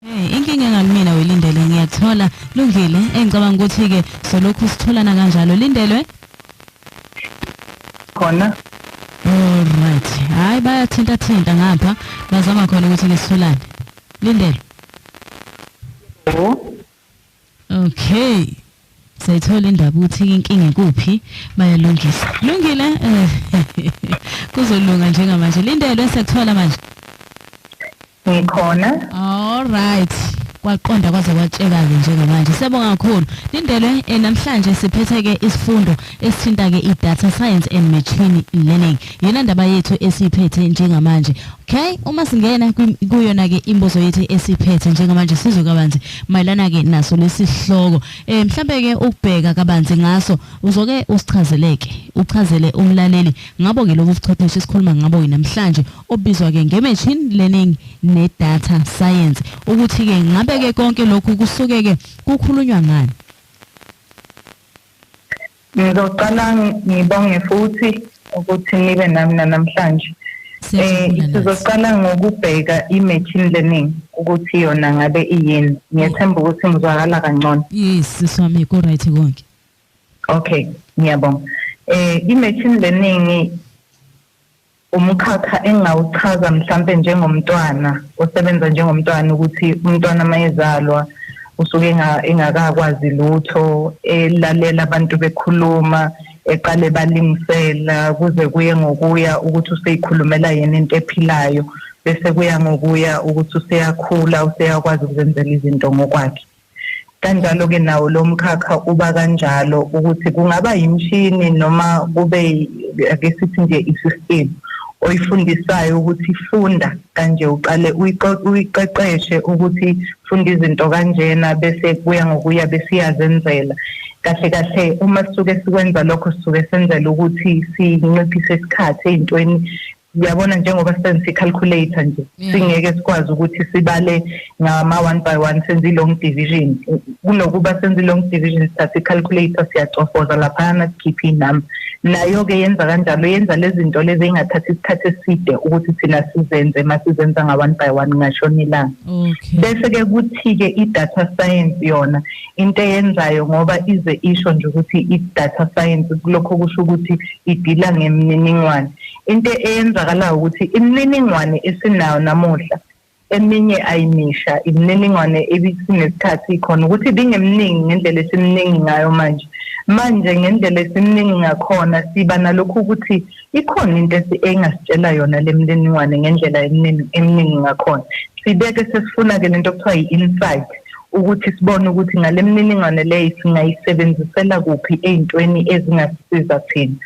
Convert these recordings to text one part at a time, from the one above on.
Hey, inkinga engalimina welindele ngiyathola lungile engicabanga ukuthi ke solokhu sitholana kanjalo lindelwe khona Alright. Hayi bayathinta thinta ngapha bazama khona ukuthi ngisitholane. Lindele. Yebo. Okay. Sayithola indaba ukuthi inkinga ikuphi bayalungisa. Lungile eh kuzolunga njengamanje. Lindelwe sekuthola manje. Ngikhona. All right. kwaqonda kwaze kwatsheka-ke njengamanje siyabonga kakhulu lindelwe eh, namhlanje siphethe-ke isifundo esithinta-ke i-data science and machine learning yona ndaba yethu esiyiphethe njengamanje okay uma singena kuyona ke imbozo yethu esiphethe njengamanje sizwe kabanzi mayelana ke naso lesihloko eh mhlambe ke ukubheka kabanzi ngaso uzoke usichazeleke uchazele umlaleli ngabo ke lobu buchwepheshe esikhuluma ngabo namhlanje obizwa ke ngemachine learning ne data science ukuthi ke ngabe ke konke lokhu kusuke ke kukhulunywa ngani Ngizoqala ngibonge futhi ukuthi nibe nami namhlanje. Eh sizoqala ngokubheka i-machine learning ukuthi yona ngabe iyini. Ngiyethemba ukuthi ngizwakala kangcono. Yes, siswami ku right konke. Okay, ngiyabonga. Eh i-machine learning umkhakha engingawuchaza mhlampe njengomntwana osebenza njengomntwana ukuthi umntwana mayezalwa usuke engakakwazi lutho elalela abantu bekhuluma eqale balingisela kuze kuye ngokuya ukuthi useyikhulumela yena into ephilayo bese kuya ngokuya ukuthi useyakhula useyakwazi ukuzenzela izinto ngokwakhe kanjalo-ke nawo lo mkhakha uba kanjalo ukuthi kungaba yimshini noma kube ake sithi nje i-system oyifundisayo ukuthi funda kanje uqale uyiqeqeshe ukuthi funda izinto kanjena bese kuya ngokuya besiyazenzela kahle kahle uma sisuke sikwenza lokho sisuke senzela ukuthi sinciphise isikhathi ey'ntweni uyabona njengoba sisebenzisa i-calculator nje mm. singeke sikwazi ukuthi sibale ngama-one by one senze i-long division kunokuba senze i-long division sithathe i-calculator siyacofoza laphayana sikhiphe inumber nayo-ke yenza kanjalo yenza lezi zinto lezi ey'ngathathi isikhathi eside ukuthi thina sizenze uma sizenza nga-one by one ngashona ilanga bese-ke kuthi-ke i-data science yona into eyenzayo ngoba ize isho nje ukuthi i-data science kulokho kusho ukuthi idila ngemininingwane into eyenzakalayo ukuthi imininingwane esinayo namuhla eminye ayimisha imininingwane ebisinesikhathi ikhona ukuthi ibingeminingi ngendlela esiminingi ngayo manje manje ngendlela esiminingi ngakhona siba nalokhu ukuthi ikhona into engasitshela yona le mininingwane ngendlela eminingi ngakhona sibeke sesifuna-ke lento okuthiwa yi-insight ukuthi sibone ukuthi ngale mininingwane leyo singayisebenzisela kuphi ey'ntweni ezingasisiza thina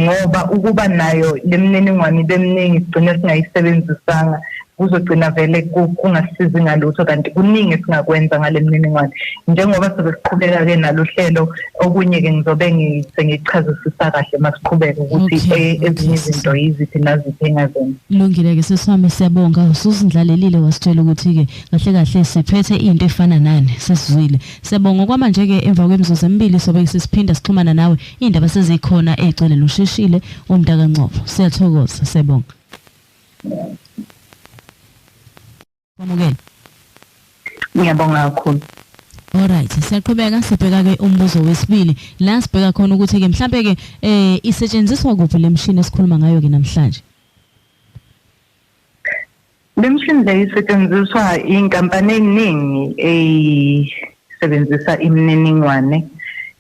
ngoba ukuba nayo le mininingwane ibe miningi sigcine singayisebenzisanga kuzogcina vele kungasizi ngalutho kanti kuningi esingakwenza ngale mininingwane njengoba sobe siqhubeka-ke nalo hlelo okunye-ke ngizobe sengichazisisa kahle uma siqhubeka ukuthi e-, ezinye izinto yiziphi naziphi engazenza lungile-ke sesami siyabonga usuzindlalelile wasitshela ukuthi-ke kahle kahle siphethe into efana nani sesizwile siyabonga kwamanje ke emva kwemizuzu emibili sobe sisiphinda sixhumana nawe indaba sezikhona egcwele lusheshile umntaka Ncobo siyathokoza siyabonga Kwamukela Ngiyabonga kakhulu Alright siyaqhubeka sibheka ke umbuzo wesibili la sibheka khona ukuthi ke mhlambe ke eh isetshenziswa kuphi lemshini esikhuluma ngayo ke namhlanje Le mishini le isetshenziswa iy'nkampani ey'ningi ey'sebenzisa imininingwane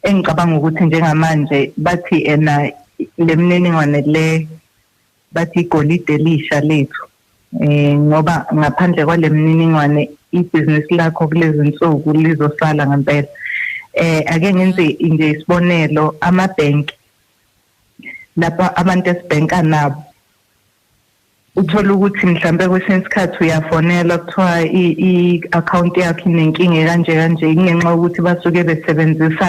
engicabanga ukuthi njengamanje bathi ena le mininingwane le bathi igolide elisha lethu um ngoba ngaphandle kwale mininingwane ibhizinisi lakho kulezi nsuku lizosala ngempela um ake ngenze nje isibonelo amabhenki lapho abantu esibhenka nabo uthole ukuthi mhlambe kwesinye isikhathi uyafonela kuthiwa i-akhawunti yakho inenkinga ekanje kanje kungenxa yokuthi basuke besebenzisa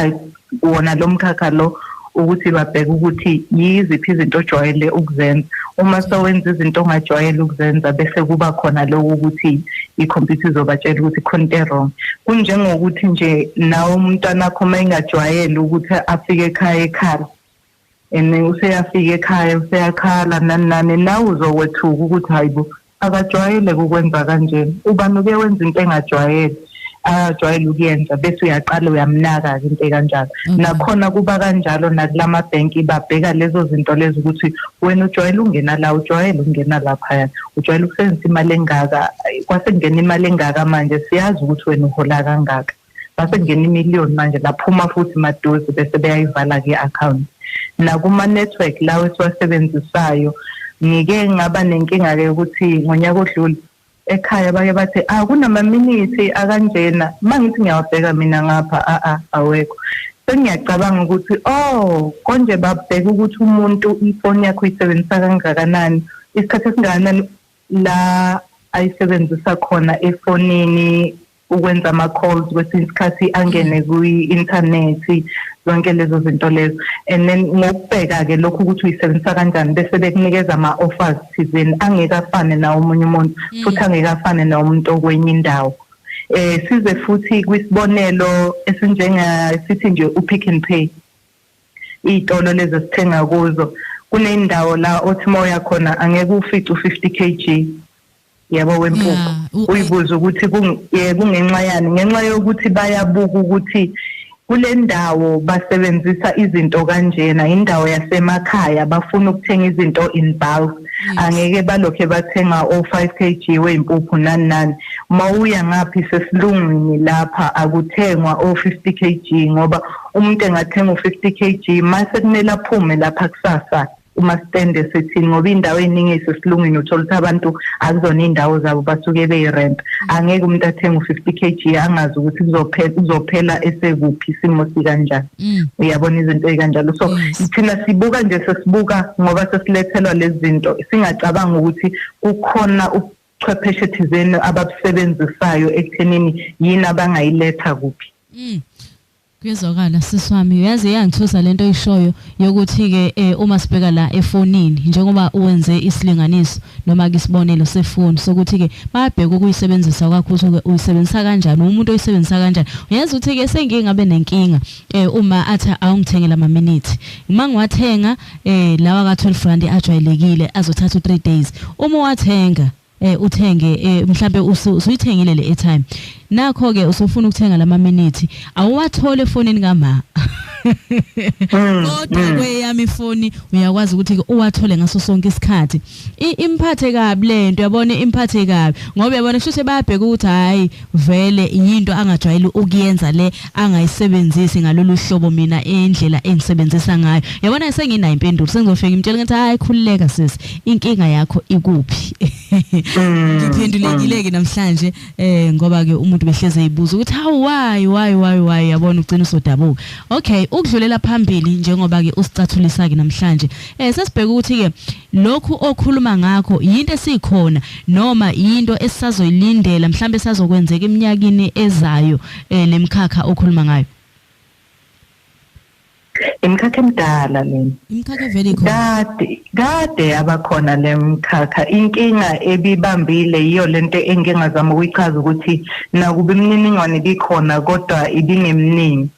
wona lo mkhakha lo ukuthi babheke ukuthi yiziphi izinto ojwayele ukuzenza uma sewenza izinto ongajwayele ukuzenza bese kuba khona lokho ukuthi ikhompyutha izobatshela ukuthi khona into wrong kunjengokuthi nje nawe umntwana wakho uma engajwayele ukuthi afike ekhaya ekhala and useyafika ekhaya useyakhala nani nani nawe uzokwethuka ukuthi hayibo akajwayele kukwenza kanjena ubani uke wenza into engajwayele ajwayele ukuyenza bese uyaqala uyamnaka-ke into ekanjalo mhm. nakhona kuba kanjalo nakula mabhenki babheka lezo zinto lezo ukuthi wena ujwayele ukungena la ujwayele ukungena laphaya ujwayele ukusebenzisa imali engaka kwase kungena imali engaka manje siyazi ukuthi wena uhola kangaka base kungena imillion manje laphuma futhi maduze bese beyayivala ke account nakuma network lawo esiwasebenzisayo ngike ngaba nenkinga ke ukuthi ngonyaka odlule ekhaya bake bathi ah kunamaminithi akanjena mangithi ngiyawabheka mina ngapha a a awekho sengiyacabanga ukuthi oh konje babheka ukuthi umuntu ifoni yakho uyisebenzisa kangakanani isikhathi esingakanani la ayisebenzisa khona efonini ukwenza ama-calls kwesinye isikhathi angene kwi-inthanethi zonke lezo zinto lezo and then ngokubheka-ke lokhu ukuthi uyisebenzisa kanjani bese bekunikeza ama-offers thizeni angeke afane nawo omunye umuntu mm. futhi angeke afane nawo umuntu okwenye indawo eh size futhi kwisibonelo esinjenga sithi nje upick and pay iy'tolo lezi esithenga kuzo kunendawo la othi uma uya khona angeke ufice u-fifty k g yabo wempuku uyibuza ukuthi eh, kungenxa yani ngenxa yokuthi bayabuka ukuthi kule ndawo basebenzisa izinto kanjena indawo yasemakhaya bafuna ukuthenga izinto in bulk angeke balokhe bathenga o5 kg weimpuphu nani nani mawuya ngaphi sesilungwini lapha akuthengwa o50 kg ngoba umuntu engathenga u50 kg mase kumele aphume lapha kusasa uma sitende sithi ngoba indawo eningi isesilungwini uthola ukuthi abantu akuzona indawo zabo basuke beyirent angeke umuntu athenge u50 kg angazi ukuthi kuzophela kuzophela esekuphi isimo sikanjani mm. uyabona izinto ezikanjalo so thina sibuka nje sesibuka ngoba sesilethelwa lezi zinto singacabanga ukuthi kukhona ubuchwepheshe thizeni ababusebenzisayo ekuthenini yini abangayiletha kuphi mm. Kuyezwakala sisi wami uyazi iyangithusa lento oyishoyo yokuthi ke eh, uma sibheka la efonini njengoba uwenze isilinganiso noma ke isibonelo sefoni sokuthi ke bayabheka ukuyisebenzisa kwakho ukuthi ke uyisebenzisa kanjani umuntu oyisebenzisa kanjani uyazi ukuthi ke sengingabe nenkinga eh, uma athi awungithengela ama minute uma ngiwathenga eh, lawa ka 12 rand ajwayelekile azothatha u 3 days uma wathenga eh uthenge eh mhlambe usuyithengile le airtime nakho ke usufuna ukuthenga lama minute awuwathole efonini kama hmm, kodwa hmm. kweyami ifoni uyakwazi ukuthi uwathole ngaso sonke isikhathi imphathe kabi lento yabona imphathe kabi ngoba yabona shoshe bayabheka ukuthi hayi vele yinto angajwayele ukuyenza le angayisebenzisi ngalolu hlobo mina indlela engisebenzisa ngayo yabona senginayo impendulo sengizofika imtshela ngathi hayi khululeka sisi inkinga yakho ikuphi mm. ngiphendulekile ke namhlanje eh ngoba ke umuntu behleze eyibuza ukuthi how why why why why yabona ugcina usodabuka okay ukudlulela phambili njengoba ke usicathulisa ke namhlanje eh sesibheka ukuthi ke Lokhu okhuluma ngakho yinto esikhona noma yinto esisazoyilindela mhlambe sazokwenzeka iminyakini ezayo eh, lemkhakha okhuluma ngayo. Imkhakha emdala lena. Imkhakha vele ikhona. Kade kade abakhona lemkhakha. Inkinga ebibambile yiyo lento engingazama ukuyichaza ukuthi nakuba imininingwane ibikhona kodwa ibingeminingi.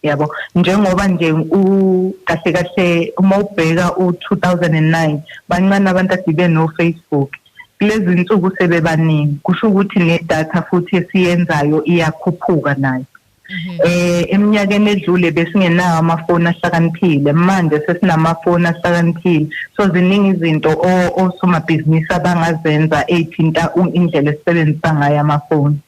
yabo njengoba nje u kahle kahle uma ubheka u2009 bancane abantu adibe no Facebook kulezi nsuku sebebaningi kusho ukuthi nedata futhi esiyenzayo iyakhuphuka nayo mhm. eh eminyakeni edlule besingenawo amafoni ahlakaniphile manje sesinamafoni ahlakaniphile so ziningi izinto osomabhizinisi abangazenza ezithinta indlela esisebenzisa ngayo amafoni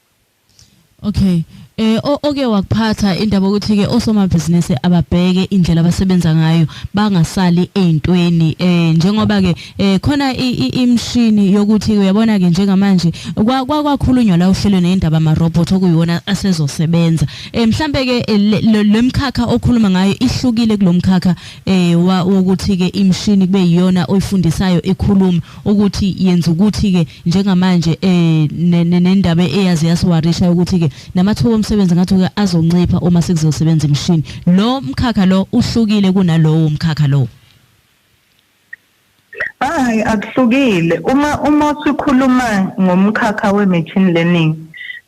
Okay. Eh oke wakuphatha indaba ukuthi ke osomabhizinisi ababheke indlela abasebenza ngayo bangasali eintweni eh njengoba ke eh khona imshini yokuthi uyabona ke njengamanje kwakhulunywa la uhlelo neindaba ama robot okuyiwona asezosebenza eh mhlambe ke eh, lemkhakha okhuluma ngayo ihlukile kulomkhakha eh wokuthi ke imshini kube yiyona oyifundisayo ikhuluma ukuthi yenza ukuthi ke njengamanje eh nendaba eyazi yasiwarisha ukuthi ke namathuba omsebenzi ngathi ke azoncipha uma sekuzosebenza imishini lo mkhakha lo uhlukile kunalowo mkhakha lo hayi akuhlukile uma uma sikhuluma ngomkhakha we machine learning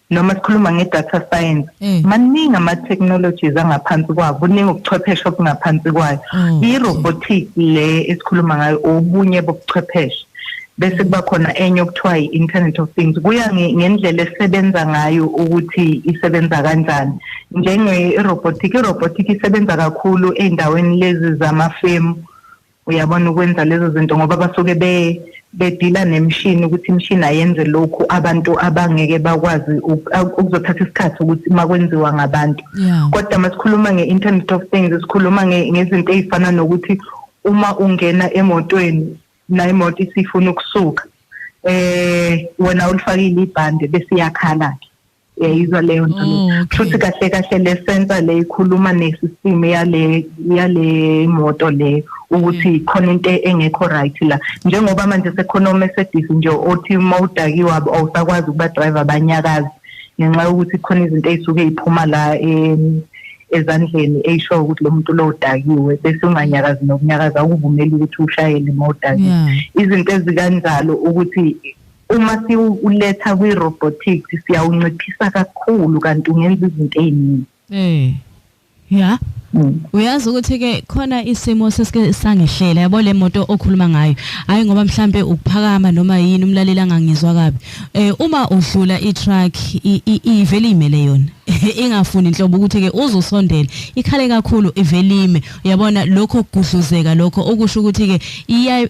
noma sikhuluma nge-data science mm. maningi ama-technologies angaphansi kwayo kuningi ubuchwepheshe obungaphansi kwayo mm. i-robotic le esikhuluma ngayo obunye bobuchwepheshe bese kuba khona enye okuthiwa i-internet of things kuya ngendlela esebenza ngayo ukuthi isebenza kanjani njenge-robotic i-robotic isebenza kakhulu ey'ndaweni lezi zamafemu uyabona ukwenza lezo zinto ngoba basuke be bedila nemshini ukuthi imshini ayenze lokhu abantu abangeke bakwazi ukuzothatha isikhathi ukuthi makwenziwa ngabantu kodwa masikhuluma nge-internet of things sikhuluma ngezinto ezifana nokuthi uma ungena emotweni la imoto isifuna ukusuka eh wena ulifakile ibhande bese iyakhala ke uyayizwa leyo nto oh, okay. futhi kahle kahle le sensor le ikhuluma ne system yale yale moto le ukuthi mm. khona into engekho right la njengoba manje sekhona omesedis nje othi mawudakiwa awusakwazi ukuba driver banyakazi ngenxa yokuthi khona izinto ezisuke iphuma la ezandleni eyisho ukuthi lo muntu lo udakiwe bese unganyakazi nokunyakaza ukuvumela ukuthi ushayele mawudakiwe izinto ezikanjalo ukuthi uma siwuletha kwi-robotics siyawunciphisa kakhulu kanti ungenza izinto ey'ningi um ya mm. uyazi ukuthi-ke khona isimo sesike sangehlela yabo le moto okhuluma ngayo hhayi ngoba mhlampe ukuphakama noma yini umlaleli angangizwa kabi um uma udlula itruck ivele iyimele yona ingafuni nhlobo ukuthi-ke uzusondele ikhale kakhulu ivelime yabona lokho kugudluzeka lokho okusho ukuthi ke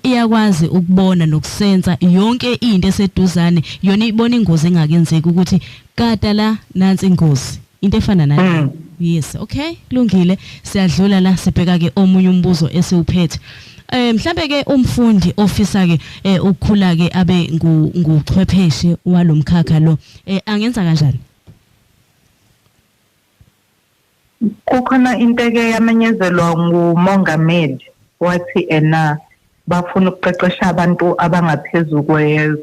iyakwazi ukubona nokusensa yonke into eseduzane yona ibona ingozi engakenzeki ukuthi kata la nansi ingozi into efana nale hmm. yes okay kulungile siyadlula la sibheka ke omunye umbuzo esiwuphethe eh mhlambe ke umfundi ofisa ke eh, ukukhula ke abe nguchwepheshe walomkhakha lo eh, angenza kanjani Kukhona into eke yamenyezelwa ngumongameli wathi ena bafuna ukuqeqesha abantu abangaphezu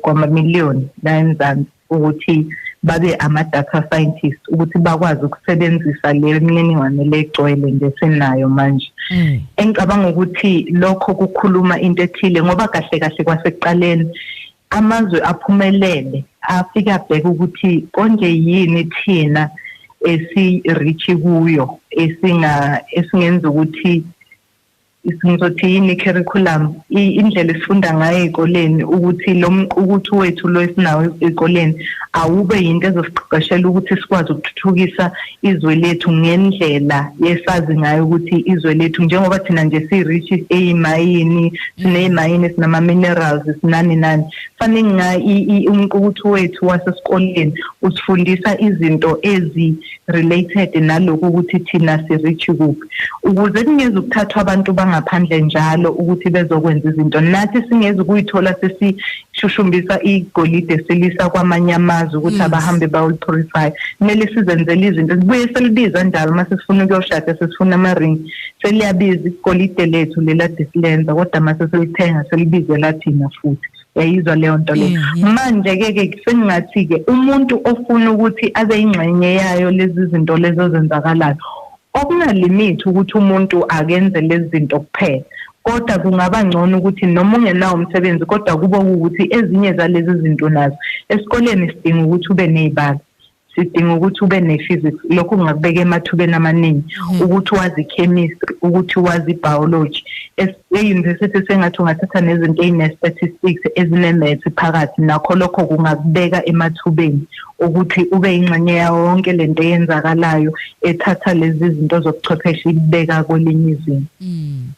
kwamamiliyoni la eMzansi ukuthi babe ama-data scientist ukuthi bakwazi ukusebenzisa le mininingwane legcwele nje sinayo manje mm. engicabanga ukuthi lokho kukhuluma into ethile ngoba kahle kahle kwasekuqaleni amazwe aphumelele afika bheka ukuthi konje yini thina esi-reach kuyo esinga esingenza ukuthi ngizothi yini curriculum indlela esifunda ngayo ezikoleni ukuthi lo mqukuthi wethu lo esinawo ezikoleni awube yinto ezosiqeqeshela ukuthi sikwazi ukuthuthukisa izwe lethu ngendlela esazi ngayo ukuthi izwe lethu njengoba thina nje si-rich eyimayini sineyimayini sinama-minerals sinani nani fanele nga umqukuthu wethu wasesikoleni usifundisa izinto ezi-related nalokhu ukuthi thina si-rich kuphi ukuze kungezi ukuthathwa abantu bangaphandle njalo ukuthi bezokwenza izinto nathi singezi ukuyithola sesi shushumbisa igolide silisa kwamanye amazwe ukuthi abahambe bawulipurify kumele sizenzele izinto sibuye selibiza njalo uma sesifuna ukuyoshada sesifuna ama-ring seliyabiza igolide lethu lelade silenza kodwa uma sesilithenga selibizela thina futhi yayizwa leyo nto leyo manje-ke ke sengingathi-ke umuntu ofuna ukuthi abe yingxenye yayo lezi zinto lezo ezenzakalayo Okuna limit ukuthi umuntu akenze lezi zinto kuphela kodwa kungaba ngcono ukuthi noma ungenawo umsebenzi kodwa kube ukuthi ezinye zalezi zinto nazo esikoleni sidinga ukuthi ube nezibalo sidinga ukuthi ube ne-physics lokho kungakubeka emathubeni amaningi mhm. ukuthi wazi chemistry ukuthi wazi biology e-university sengathi ungathatha nezinto eyine-statistics ezine-math phakathi nakho lokho kungakubeka emathubeni ukuthi ube ingxenye yawo wonke lento eyenzakalayo ethatha lezi zinto zobuchwepheshe ibeka kwelinye izinga mm.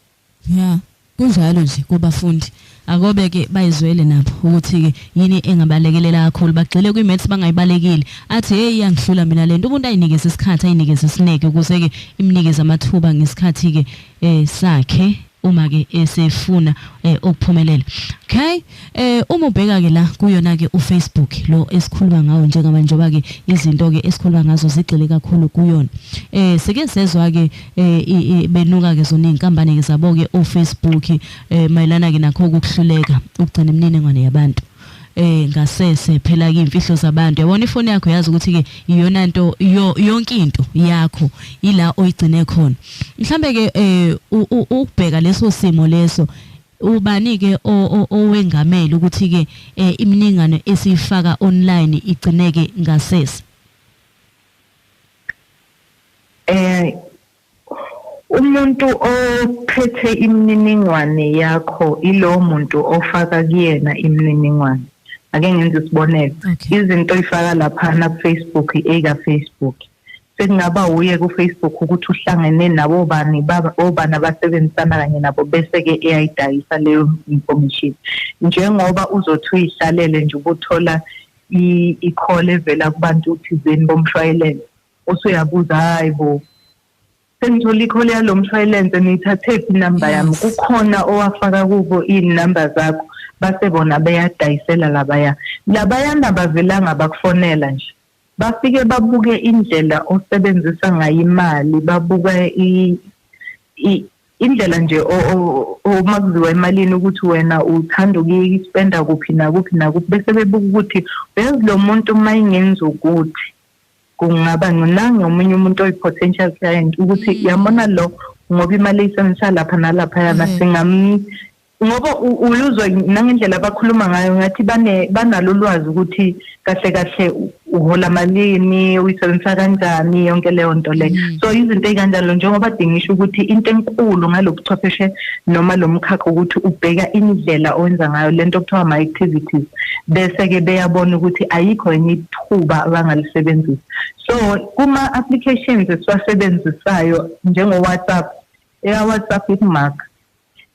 ya kunjalo nje kubafundi akobe ke bayizwele nabo ukuthi ke yini engabalekelela kakhulu bagxile kwi maths bangayibalekile athi hey iyangihlula mina lento umuntu ayinikeze isikhathi ayinikeze isineke ukuze ke imnikeze amathuba ngesikhathi ke eh sakhe uma ke esefuna eh, ukuphumelela okay eh uma ubheka ke la kuyona ke uFacebook lo esikhuluma ngawo njengama njoba ke izinto ke esikhuluma ngazo zigxile kakhulu kuyona eh sike sezwa ke eh, benuka ke zona izinkampani ke zabo ke oFacebook eh mayelana ke nakho ukuhluleka ukugcina imininingwane yabantu eh ngasese phela ke imfihlo zabantu yabona ifoni yakho yazi ukuthi ke iyona nto yonke into yakho ila oyigcine khona mhlambe ke eh ukubheka leso simo leso ubani ke owengamele ukuthi ke eh, iminingane esiyifaka online igcineke ngasese eh Umuntu ophethe imininingwane yakho ilowo muntu ofaka kuyena imininingwane. Ake ngenze isibonelo. Okay. Izinto oyifaka laphana ku-Facebook eka Facebook. Sekungaba wuye ku-Facebook ukuthi uhlangene nabo bani baba- obani abasebenzisana kanye nabo bese ke eyayidayisa leyo information. Njengoba uzothi uyihlalele nje ubuthola i- i-call evela kubantu thizeni bomshwayelele. usuyabuza hayi bo sengithola ikhole yalo mshwayilense niyithathe phi inamba yami kukhona owafaka kubo iy'namba zakho base bona beyadayisela labaya labayana bavelanga bakufonela nje bafike babuke indlela osebenzisa ngayo imali babuka indlela nje uma kuziwa emalini ukuthi wena uthanda ukuyispenda kuphi nakuphi nakuphi bese bebuka ukuthi uyazi lo muntu uma ingenzi ukuthi kungaba nginange omunye umuntu oyi-potential client ukuthi mm. yabona lo ngoba imali eyisebenzisa lapha nalapha yana mm. singam ngoba uyuzwa nangendlela abakhuluma ngayo ngathi bane banalo lwazi ukuthi kahle kahle uhola malini uyisebenzisa kanjani yonke leyo nto leyo mm. so izinto ezikanjalo njengoba dingisho ukuthi into enkulu ngalobuchwepheshe noma lomkhakha ukuthi ubheka indlela owenza ngayo lento kuthiwa ama activities bese ke beyabona ukuthi ayikho enye khuba abangalisebenzisa so kuma applications esiwasebenzisayo njengo WhatsApp eka WhatsApp ikumark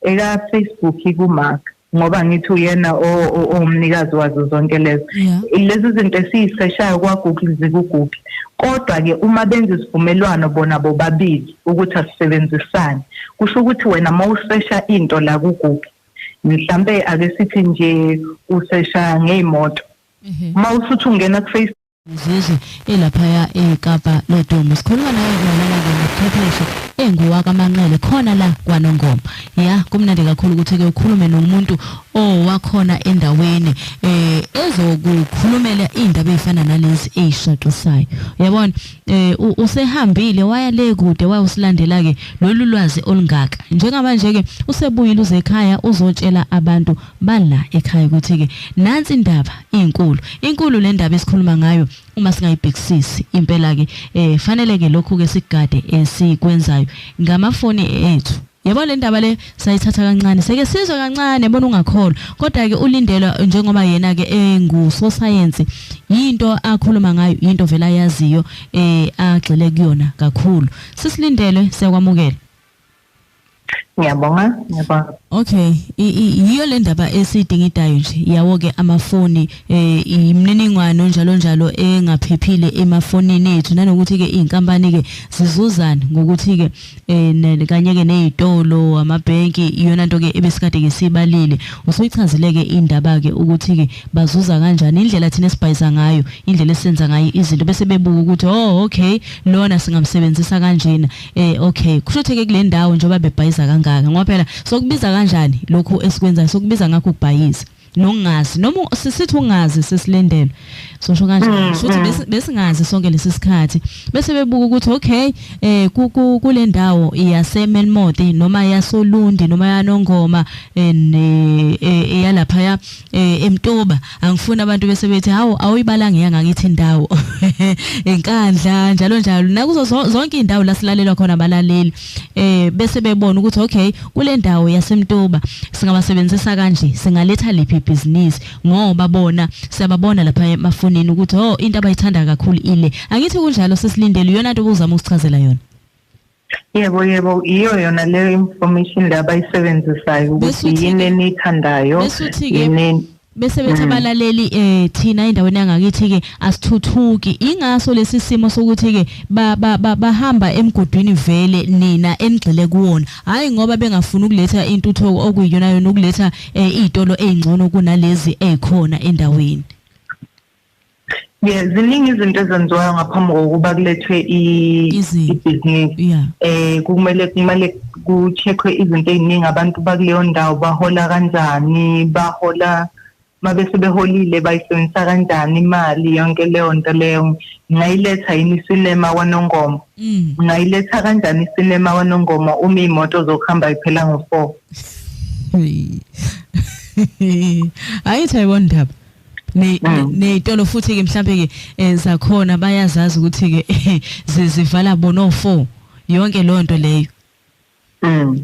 eka Facebook ikumark ngoba ngithi uyena owumnikazi wazo zonke lezo lezi zinto esiyiseshayo kwa Google zikuGoogle kodwa ke uma benza isivumelwano bona bobabili ukuthi asisebenzisane kusho ukuthi wena mawusesha into la kuGoogle mhlambe ake sithi nje usesha ngeimoto uma usuthi ungena kuface Mzuzu elaphaya eKapa lodumo sikhuluma naye ngolala ngobuchwepheshe enguwakamanqele khona la kwanongoma ya kumnandi kakhulu ukuthi ke ukhulume nomuntu owakhona endaweni eh ezokukhulumela indaba ezifana nalezi ezishaqisayo yabona eh usehambile waya le kude wayosilandela ke lolu lwazi olungaka njengamanje ke usebuyile uzekhaya uzotshela abantu bala ekhaya ukuthi ke nansi indaba inkulu inkulu le ndaba esikhuluma ngayo uma singayibhekisisi impela ke eh fanele ke lokhu ke sigade esikwenzayo ngamafoni ethu yabo le ndaba le sayithatha kancane seke sizwe kancane bona ungakholwa kodwa ke ulindelwa njengoba yena ke engusosayensi yinto akhuluma ngayo yinto vela yaziyo eh agxile kuyona kakhulu sisilindele siyakwamukela ngiyabonga ngiyabonga okay yiyo le ndaba esidingidayo nje yawo ke amafoni eh imininingwane onjalo njalo engaphephile emafonini ethu nanokuthi ke izinkampani ke zizuzana ngokuthi ke eh kanye ke nezitolo amabhenki iyona nto ke ebesikade ke sibalile usuyichazile ke indaba ke ukuthi ke bazuza kanjani indlela thina esibhayiza ngayo indlela esenza ngayo izinto bese bebuka ukuthi oh okay lona singamsebenzisa kanjena eh okay kusho ukuthi ke kule ndawo njengoba bebhayiza kangaka ngoba phela sokubiza kanjani lokhu esikwenzayo sokubiza ngakho ukubhayiza nokungazi noma sisithi ungazi sesilendelwe sosho kanje mm, futhi mm. besingazi sonke lesi sikhathi bese bebuka ukuthi okay eh kule ndawo iyase Melmodi noma yasolundi noma yanongoma eh, eh, eh yalapha ya eh emtuba angifuni abantu bese bethi hawo awuyibalanga yanga ngithi indawo enkandla njalo njalo nakuzo zonke indawo lasilalelwa khona abalaleli eh bese bebona ukuthi okay kule ndawo yasemtuba singabasebenzisa kanje singaletha liphi business ngoba bona siyababona lapha emafonini ukuthi oh into abayithanda kakhulu ile angithi kunjalo sesilindele iyona nto obuzama ukuchazela yona yebo yebo iyo yona leyo information le abayisebenzisayo ukuthi yini eniyithandayo yini bese bethi mm. abalaleli eh thina endaweni yangakithi ke asithuthuki ingaso lesi simo sokuthi ke bahamba emgodwini vele nina enigxile kuwona hayi ngoba bengafuni ukuletha intuthoko okuyiyona yona ukuletha eh, izitolo ezingcono kunalezi ezikhona endaweni Yeah, ziningi izinto ezenziwayo ngaphambi kokuba kulethwe ibhizinisi. Yeah. Eh kumele kumele kucheckwe izinto eziningi abantu bakuleyo ndawo bahola kanjani, bahola mabese beholile bayisebenzisa kanjani imali yonke leyo nto leyo ngayiletha yini isinema kwanongoma mm. ngayiletha kanjani isinema kwanongoma uma imoto zokuhamba iphela ngo-four ayithayi kondaba ney'tolo mm. futhi-ke mhlawumbe-ke um eh, zakhona bayazazi ukuthi-ke zivala bona o-four yonke leyo nto leyo mm.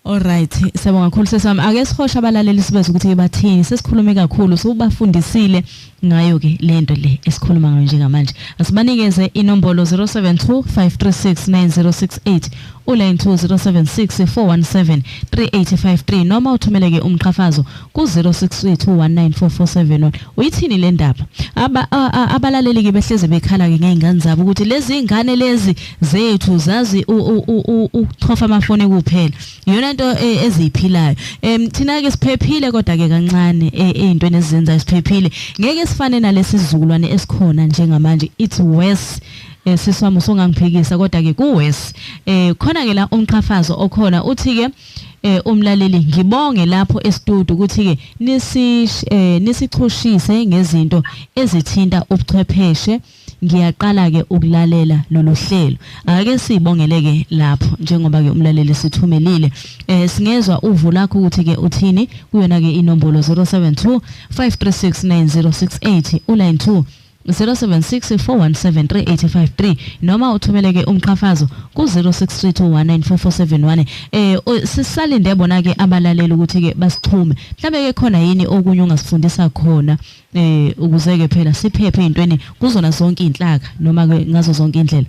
Alright, siyabonga kakhulu sesami. Ake sihoshe abalaleli sibaze ukuthi bathini. Sesikhulume kakhulu, sobafundisile ngayo ke lento le esikhuluma ngayo njengamanje. Asibanikeze inombolo 0725369068 uline 2076 417 3853 noma uthumeleke umqhafazo ku-0632194471 uyithini le ndaba Aba, a, a, abalaleli ke behleze bekhala-ke ngey'ngane zabo ukuthi lezi y'ngane lezi zethu zazi ukuchofa amafoni kuphela iyona nto e, eziyiphilayo um thina-ke siphephile kodwa-ke kancane e, ey'ntweni ezizenzayo siphephile ngeke sifane nalesi sizukulwane esikhona njengamanje it's worse Eh sisi wami usongangiphikisa kodwa ke kuwes eh khona ke la umqhafazo okhona uthi ke eh umlaleli ngibonge lapho estudio ukuthi ke nisi eh nisichushise ngezinto ezithinta ubuchwepheshe ngiyaqala ke ukulalela lolu hlelo ake sibongele ke lapho njengoba ke umlaleli sithumelile eh singezwa uvu lakho ukuthi ke uthini kuyona ke inombolo 072 536 9068 uline 2 076 417 noma uthumeleke umqhafazo ku-0632194471 eh sisalinde bona ke abalaleli ukuthi ke basixhume mhlambe ke khona yini okunye ongasifundisa khona eh ukuze ke phela siphephe ezintweni kuzona zonke izinhlaka noma ke ngazo zonke indlela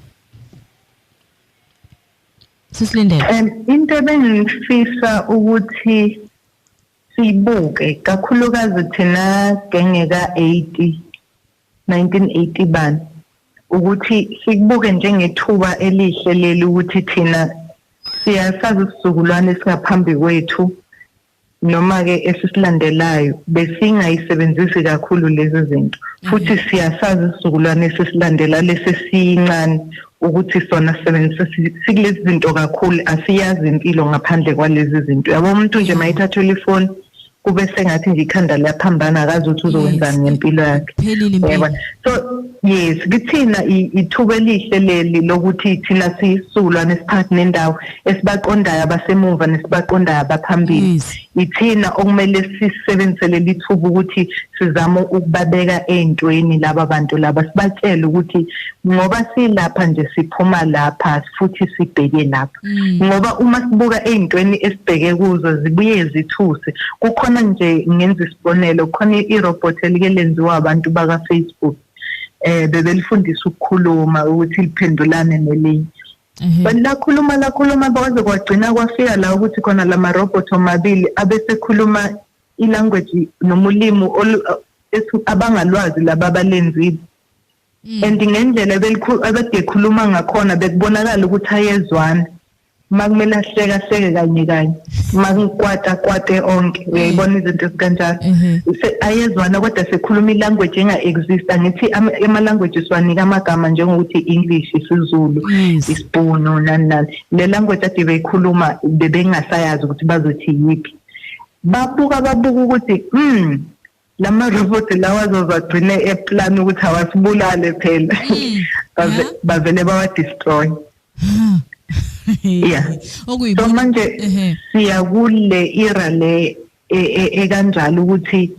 sisilindele into ebengifisa ukuthi siyibuke kakhulukazi thina gengeka 80 1980 bani ukuthi sikubuke njengethuba elihle leli ukuthi thina siyasazi isizukulwane singaphambi kwethu noma ke esisilandelayo besingayisebenzisi kakhulu lezi zinto futhi mhm. siyasazi isizukulwane esisilandela lesesiyincane ukuthi sona sisebenzisa sikulezi zinto kakhulu asiyazi impilo ngaphandle kwalezi zinto yabo umuntu nje mayithathela ifoni kube sengathi nje ikhanda liyaphambana akazi ukuthi uzokwenzani ngempilo yakhe yebo so yes kithina ithuba elihle leli lokuthi thina siyisulwa nesiphakathi nendawo esibaqondayo abasemuva nesibaqondayo abaphambili yithina okumele sisebenzise leli thuba ukuthi sizame ukubabeka ey'ntweni laba bantu laba sibatshele ukuthi ngoba silapha nje siphuma lapha futhi sibheke lapha mm. ngoba uma sibuka ey'ntweni esibheke kuzo zibuye zithuse kukhona nje ngenza isibonelo khona i-robot elike lenziwa abantu bakafacebook um bebelifundisa ukukhuluma ukuthi liphendulane nelinye but lakhuluma lakhuluma kwaze kwagcina kwafika la ukuthi khona la marobot omabili abesekhuluma ilanguage noma ulimi abangalwazi laba balenzile mm. and ngendlela abedekhuluma ngakhona bekubonakala ukuthi ayezwana uma kumele ahleke ahleke kanye kanye makukwata kwate onke mm. uyayibona izinto ezikanjalo mm-hmm. ayezwana kodwa sekhuluma ilanguage enga-exist angithi ama-language siwanika amagama njengokuthi i-english isizulu isibhunu nani nani le language ade beyikhuluma bebengasayazi ukuthi bazothi yiphi babuka babuka ukuthi um lama robot lawa azozagcine eplan ukuthi awasibulale phela hmm. bavele bawa destroy yeah so manje siya kule era le e, e, ekanjalo ukuthi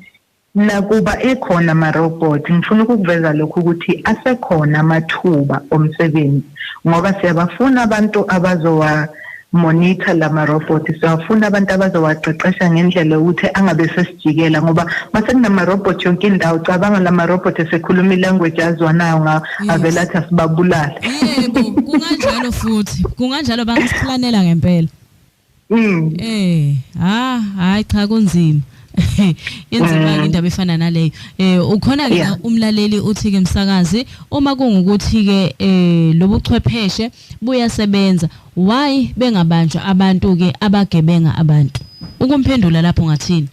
nakuba ekhona ama robot ngifuna ukuveza lokho ukuthi asekhona amathuba omsebenzi ngoba siyabafuna abantu abazowa monitor lama robot siyafuna abantu abazowaqeqesha ngendlela ukuthi angabe sesijikela ngoba mase kunama robot yonke indawo cabanga lama robot esekhuluma ilanguage azwanayo nga avela athi asibabulala yebo kunganjalo futhi kunganjalo bangasiplanela ngempela Mm. Eh, ha, ah, hayi cha kunzima. yenzima mm. indaba efana naleyo eh ukhona ke umlaleli uthi ke msakazi uma kungukuthi ke eh lobuchwepheshe buyasebenza why bengabanjwa abantu ke abagebenga abantu ukumphendula lapho ngathini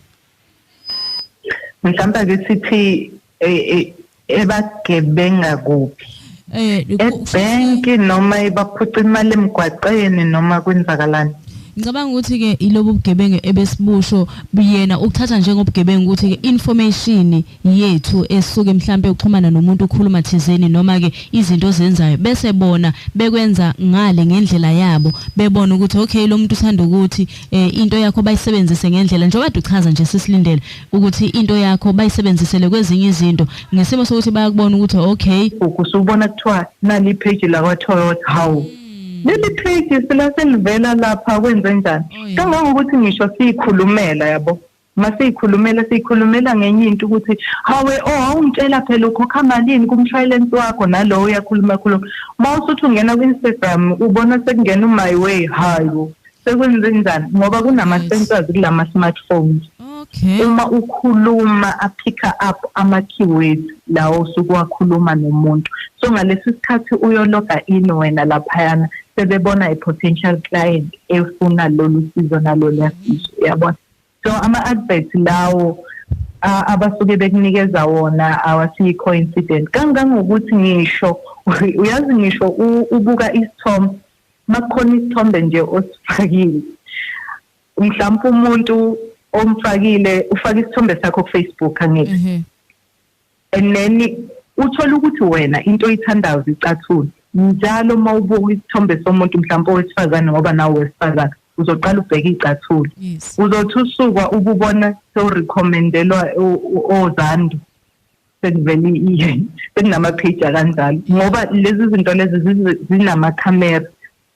mhlawumbe ke sithi eh, eh, ebagebenga kuphi eh ebhenki noma ibaphuca imali emgwaqeni noma kwenzakalani ngicabanga ukuthi ke ilobu bugebengu ebesibusho buyena ukuthatha njengobugebengu ukuthi ke information yethu esuke mhlambe uxhumana nomuntu ukhuluma thizeni noma ke izinto ozenzayo bese bona bekwenza ngale ngendlela yabo bebona ukuthi okay lo muntu uthanda ukuthi eh, into yakho bayisebenzise ngendlela njengoba duchaza nje sisilindele ukuthi into yakho bayisebenzisele kwezinye izinto ngesimo sokuthi bayakubona ukuthi okay ukusubona kuthiwa nali page la kwa Toyota how hmm. leli page silaselivela lapha kwenze njani oh, kangangokuthi ngisho siyikhulumela yabo masiyikhulumela siyikhulumela ngenye into ukuthi hawe oh awungitshela phela ukhokha malini kumshwalense wakho nalowo uyakhuluma khuluma uma usuthi ungena ku-instagram ubona sekungena umy way hayo sekwenzenjani ngoba kunama-sensors kulama-smartphones okay. uma ukhuluma aphicka up ama-keywords lawo osuke wakhuluma nomuntu so ngalesi sikhathi uyologa in wena laphayana sebebona i-potential client efuna lolu sizo nalolu yasizo uyabona so ama-advert lawo abasuke bekunikeza wona awasikho incident kangangokuthi ngisho uyazi ngisho ubuka isithombe makukhona isithombe nje osifakile mhlawumbe umuntu omfakile ufaka isithombe sakho kufacebook angithi mhm. and then uthole ukuthi wena into oyithandayo zicathula njalo uma ubuka isithombe somuntu mhlawumbe owesifazane ngoba nawe wesifazane uzoqala ubheke icathula uzothi usukwa ububona sewurecommendelwa ozandu sekuvele iye sekunamapage akanjalo ngoba lezi zinto lezi zinamakhamera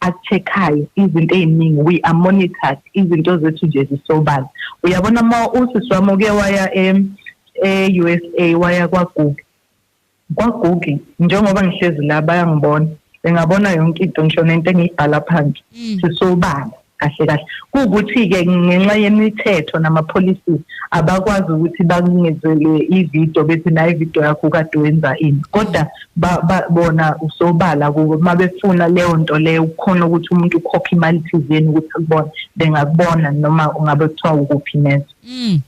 akucheckayo izinto eziningi we are monitored izinto zethu nje zisobala uyabona uma usisi wami uke waya e-USA waya kwaGugi kwaGugi njengoba ngihlezi la bayangibona bengabona yonke into ngisho nento engiyibhala phansi mm. sisobala kahle kahle kuwukuthi-ke ngenxa yemithetho nama-policies abakwazi ukuthi bakungezelwe ividiyo bethi nayo ividiyo yakho kade wenza ini kodwa ba, ba bona usobala kubo uma befuna leyo nto leyo kukhona ukuthi umuntu ukhokhe imali thizeni ukuthi akubone bengakubona noma ungabe kuthiwa ukuphi neze mm.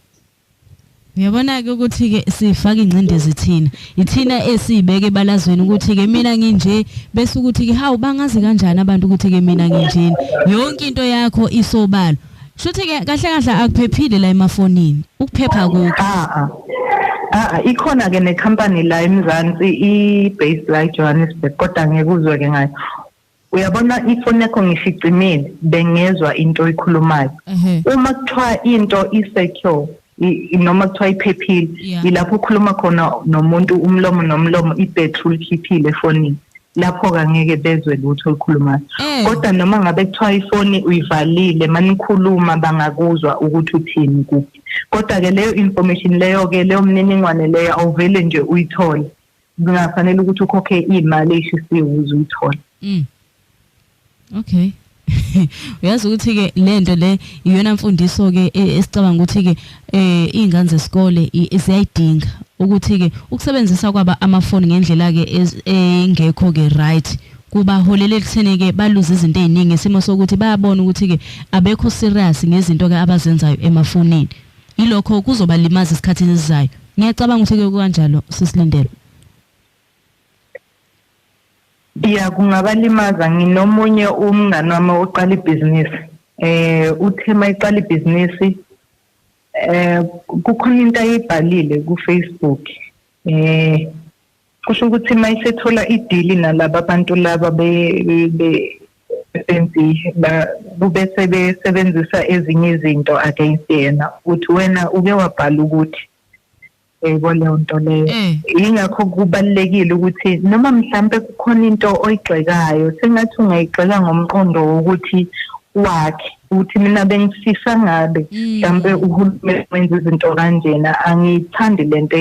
Uyabona-ke ukuthi-ke sifake ingcindezi thina ithina esiyibeke ebalazweni ukuthi-ke mina nginje bese ukuthi-ke hawu bangazi kanjani abantu ukuthi-ke mina nginjeni yonke into yakho isobala Shuthi ke kahle kahle akuphephile la emafonini. Ukuphepha kukho. Ah ah. Ah, ah ikhona ke ne company la eMzansi i based la eJohannesburg kodwa ngekuzwe ke ngayo. Uyabona ifoni yakho ngishicimile bengezwa into oyikhulumayo. Uma kuthiwa into isecure noma kuthiwa iphephile yilapho ukhuluma khona nomuntu umlomo nomlomo i-battery likhiphile efonini lapho-ke angeke bezwe lutho olukhulumayo eh. kodwa noma ngabe kuthiwa ifoni uyivalile manikhuluma bangakuzwa ukuthi uthini kuphi kodwa-ke leyo information leyo-ke leyo mniningwane leyo awuvele nje uyithole kungafanele ukuthi ukhokhe imali eshisiwe ukuze uyithole mm. okay uyazi ukuthi ke lento le iyona mfundiso ke e, esicabanga ukuthi ke eh izingane zesikole ziyayidinga ukuthi ke ukusebenzisa kwaba amafoni ngendlela ke engekho ke right kubaholela ekutheni ke baluze izinto eziningi isimo sokuthi bayabona ukuthi ke abekho serious ngezinto ke abazenzayo emafonini Yilokho kuzobalimaza esikhathini esizayo. Ngiyacabanga ukuthi kuyoku kanjalo sisilindele. Yeah kungabalimaza nginomunye umngane wami oqala ibhizinisi. Eh uthe mayiqala ibhizinisi eh kukhona into ayibhalile ku Facebook. Eh kusho ukuthi uma isethola idili nalaba bantu laba besenzi kube sebesebenzisa ezinye izinto against yena ukuthi wena uke wabhala ukuthi yebo leyo nto leyo mm. yingakho kubalulekile ukuthi noma mhlampe kukhona into oyigxekayo sengathi ungayigxeka ngomqondo wokuthi wakhe ukuthi mina bengifisa ngabe mm. mhlambe uhulumeni wenza izinto kanjena angiyithandi lento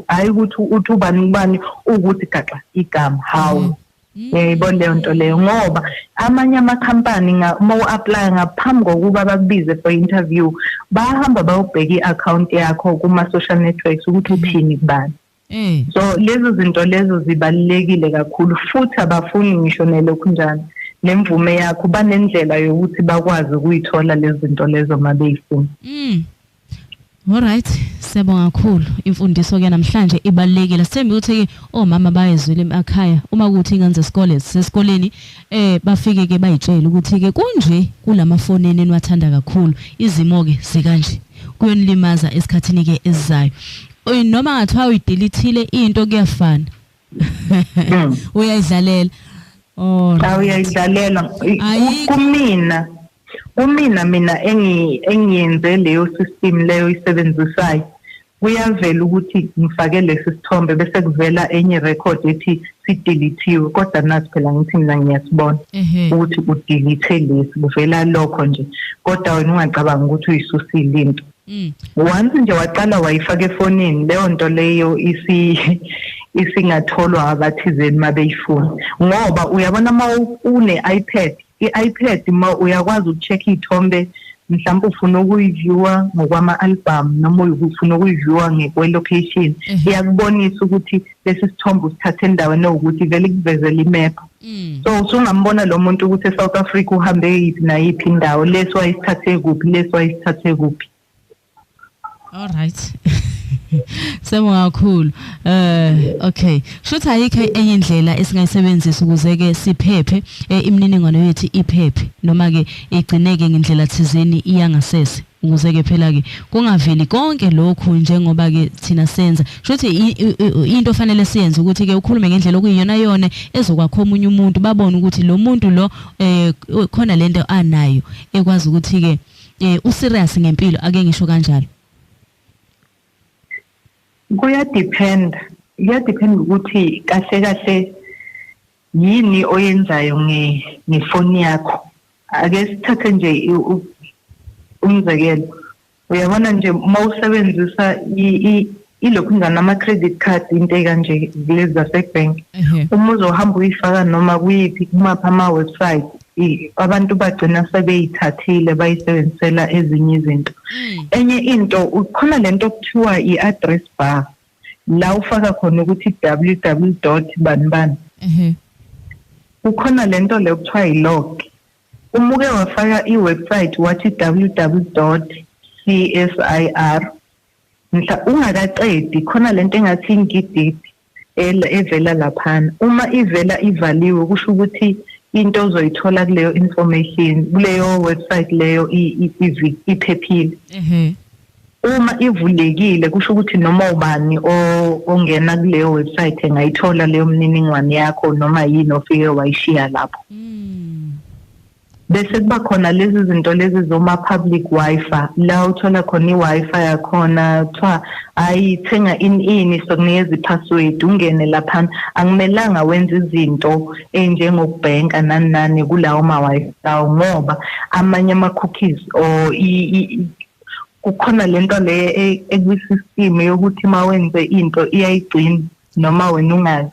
hayi ukuthi uthi ubani ubani ukuthi gaxa igama hawu mm. yayibona mm. leyo nto leyo ngoba amanye amakhampani uma u-aplaya ngaphambi kokuba bakubize for interview bahamba bayobheka i-akhawunti yakho kuma-social networks ukuthi uthini kubani Mm. so lezo zinto lezo zibalulekile kakhulu futhi abafuni ngisho nelokhu njalo nemvume yakho banendlela yokuthi bakwazi ukuyithola lezi zinto lezo uma beyifuna mm. Alright, siyabonga kakhulu. Imfundiso ke namhlanje ibalekile. Sithembe ukuthi ke omama bayezwile emakhaya uma kuthi ingane zesikole sesikoleni eh bafike ke bayitshele ukuthi ke kunje kulamafoni enenwathanda kakhulu. Izimo ke zikanje. Kuyonilimaza esikhathini ke esizayo. Oy noma ngathiwa uyidelethile into kuyafana. Hmm. Uyayidlalela. Oh. Cha uyayidlalela kumina. Kumina mina engi engiyenze leyo system leyo isebenzisayo. Kuyavela ukuthi ngifake lesi sithombe bese kuvela enye record ethi sideletiwe kodwa nazi phela ngithi mina ngiyasibona ukuthi udelete lesi kuvela lokho nje kodwa wena ungacabanga ukuthi uyisusile into Mm. Once nje waqala wayifaka efonini leyo nto leyo isi isingatholwa abathizeni mabeyifuna ngoba uyabona uma une iPad i-iPad uma uyakwazi ukucheck iy'thombe mhlawumbe ufuna ukuyiviewa ngokwama-album noma ufuna ukuyiviewa ngekwe-location mhm. iyakubonisa ukuthi lesi sithombe usithathe endaweni ewukuthi vele ikuvezela imephu Mm. so usungambona lo muntu ukuthi eSouth Africa uhambe yiphi nayiphi indawo leso ayisithathe kuphi leso ayisithathe kuphi all right Siyabonga kakhulu. Eh okay. Shothi ayikho enye indlela esingayisebenzisa ukuze ke siphephe eh, imininingwane yethu iphephe noma ke igcineke ngendlela thizeni iyangasese. Nguzeke phela ke kungaveli konke lokhu njengoba ke thina senza. Shothi into ofanele siyenze ukuthi ke ukhulume ngendlela okuyiyona yona ezokwakho omunye umuntu babone ukuthi lo muntu lo eh khona lento anayo ekwazi ukuthi ke eh u serious ngempilo ake ngisho kanjalo. Kuya depend. Kuya depend ukuthi kahle kahle Yini oyenzayo nge ngefoni yakho? Ake sithathe nje umzekelo. Uyabona nje uma usebenzisa ilokhunjana ama-credit card into ekanje kulezi zasebank uma uzohamba uyifaka noma kuyiphi kumaphi ama-website abantu bagcina sebeyithathile bayisebenzisela ezinye izinto mm. enye into ukhona lento okuthiwa i-address bar la ufaka khona ukuthi www dot bani bani kukhona le nto le kuthiwa yi-log uma uke wafaka i-website wathi www dot c s i r mhla ungakaqedi khona le nto engathi ingididi evela laphana uma ivela ivaliwe kusho ukuthi into ozoyithola kuleyo information kuleyo website leyo iphephile mhm. uma ivulekile kusho ukuthi noma ubani ongena kuleyo website engayithola leyo mniningwane yakho noma yini ofike wayishiya lapho hmm. bese kuba khona lezi zinto lezi zoma public wifi la uthola khona i-wifi yakhona kuthiwa hayi thenga in ini sokunikeza i-password ungene laphana akumelanga wenze izinto ey'njengokubhenka nani nani kulawo ma-wifi lawo ngoba amanye ama-cookies or kukhona lento le e- ekwisystem yokuthi uma wenze into iyayigcina noma wena ungazi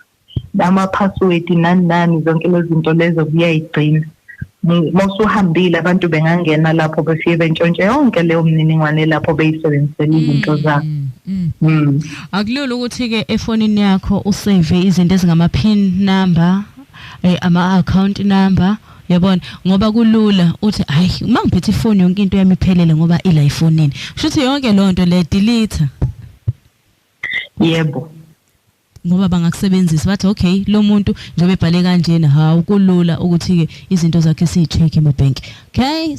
ama-password nani nani zonke lezi zinto lezo kuyayigcina mawusuhambile abantu bengangena lapho befike bentshontshe yonke leyo mniningwane lapho beyisebenzisela izinto mm, zabo mm. mm. akulula ukuthi-ke efonini yakho usave izinto ezingama-pin number eh, ama-account number yabona ngoba kulula uthi hayi uma ngiphethe ifoni yonke into yami iphelele ngoba ila ifonini kusho ukuthi yonke loo nto le delete yebo ngoba bangakusebenzisa bathi okay lo muntu njengoba ebhale kanjena hawu kulula ukuthi-ke izinto zakhe siyi-check ema-bank okay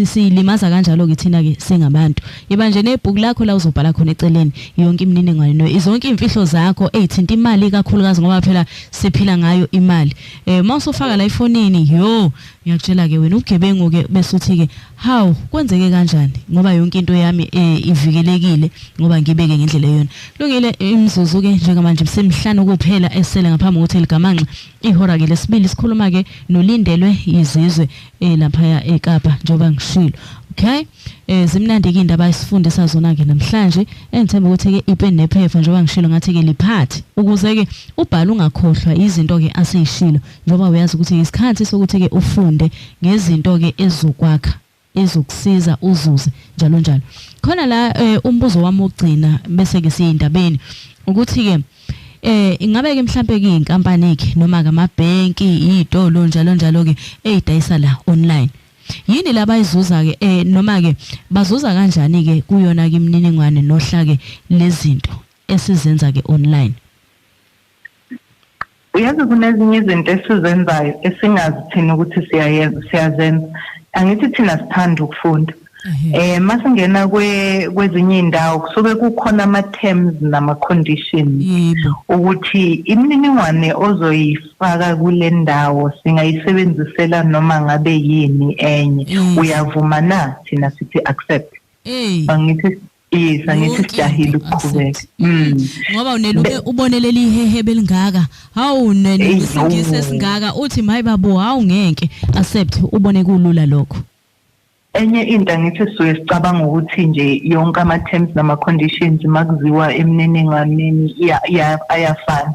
siyilimaza hmm. kanjalo-ke thina-ke singabantu yiba nje nebhuku lakho la uzobhala khona eceleni yonke imininingwane izonke iy'mfihlo zakho ey'thinta imali ikakhulukazi ngoba phela siphila ngayo imali eh uma usufaka la ifonini yo ngiyakutshela ke wena ugebengu ke bese uthi ke how kwenzeke kanjani ngoba yonke into yami eh, ivikelekile ngoba ngibeke ngendlela eyona lungile imzuzu ke njengamanje bsemhlanu kuphela esele ngaphambi kokuthi ligamanxa ihora ke lesibili sikhuluma ke nolindelwe izizwe eh, lapha eKapa njengoba ngishilo okay Eh zimnandi ke indaba esifundisa zona ke namhlanje engithemba ukuthi ke ipen nephepha njengoba ngishilo ngathi ke liphathi ukuze ke ubhala ungakhohlwa izinto ke aseyishilo njengoba uyazi ukuthi isikhathi sokuthi ke ufunde ngezinto ke ezokwakha ezokusiza uzuze njalo njalo khona la eh, umbuzo wami ogcina bese ke siyindabeni ukuthi ke eh ingabe ke mhlambe ke inkampani ke noma ke amabhenki izitolo njalo njalo ke ezidayisa la online yini labayizuza ke eh noma ke bazuza kanjani ke kuyona ke imininingwane nohla ke lezinto esizenza ke online uyazi kunezinye izinto esizenzayo esingazi thina ukuthi siyayenza siyazenza angithi thina sithanda ukufunda eh masingena kwe kwezinye indawo kusuke kukhona ama terms nama conditions ukuthi imininingwane ozoyifuna sifaka kule ndawo singayisebenzisela noma ngabe yini enye Mm. uyavuma na thina sithi accept Hey. angithi yes angithi Yonke sijahile into ukuqhubeka accept. mm ngoba uneluke ubone leli hehe belingaka hawu Eyi, nenisingisi no. esingaka uthi mayi babo hawu ngeke accept ubone kulula lokho Enye into angithi sisuke sicabanga ukuthi nje yonke ama terms nama conditions makuziwa emniningwaneni ayafana.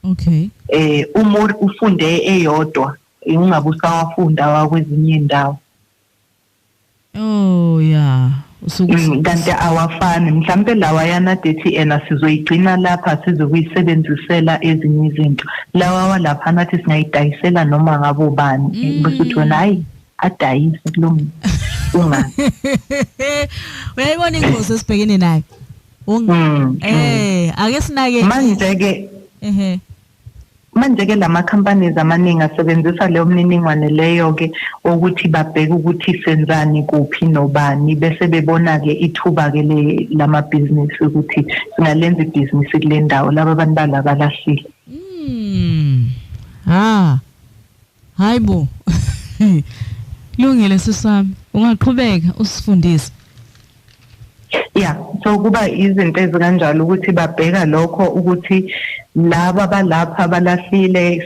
Okay. Eh uma ufunde eyodwa ungabe usawafunda wakwezinye indawo. Oh yeah. usuku mm, kanti awafani mhlambe lawa yana dethi ena sizoyigcina lapha sizokuyisebenzisela ezinye izinto lawa walapha nathi singayidayisela noma ngabo bani mm. bese uthi wena hayi adayise kulo muntu ungazi uyayibona ingozi esibhekene nayo unga Mm, mm. eh ake sinake manje ke ehe manje ke lama companies amaningi asebenzisa leyo mniningwane leyo ke ukuthi babheke ukuthi senzani kuphi nobani bese bebona ke ithuba ke le lama business ukuthi singalenza ibhizinisi kule ndawo laba bantu balabalahlile Mm. Ah. Hayi bo. Lungile sisami, ungaqhubeka usifundise. Yeah, so kuba izinto ezikanjalo ukuthi babheka lokho ukuthi laba balapha balahlile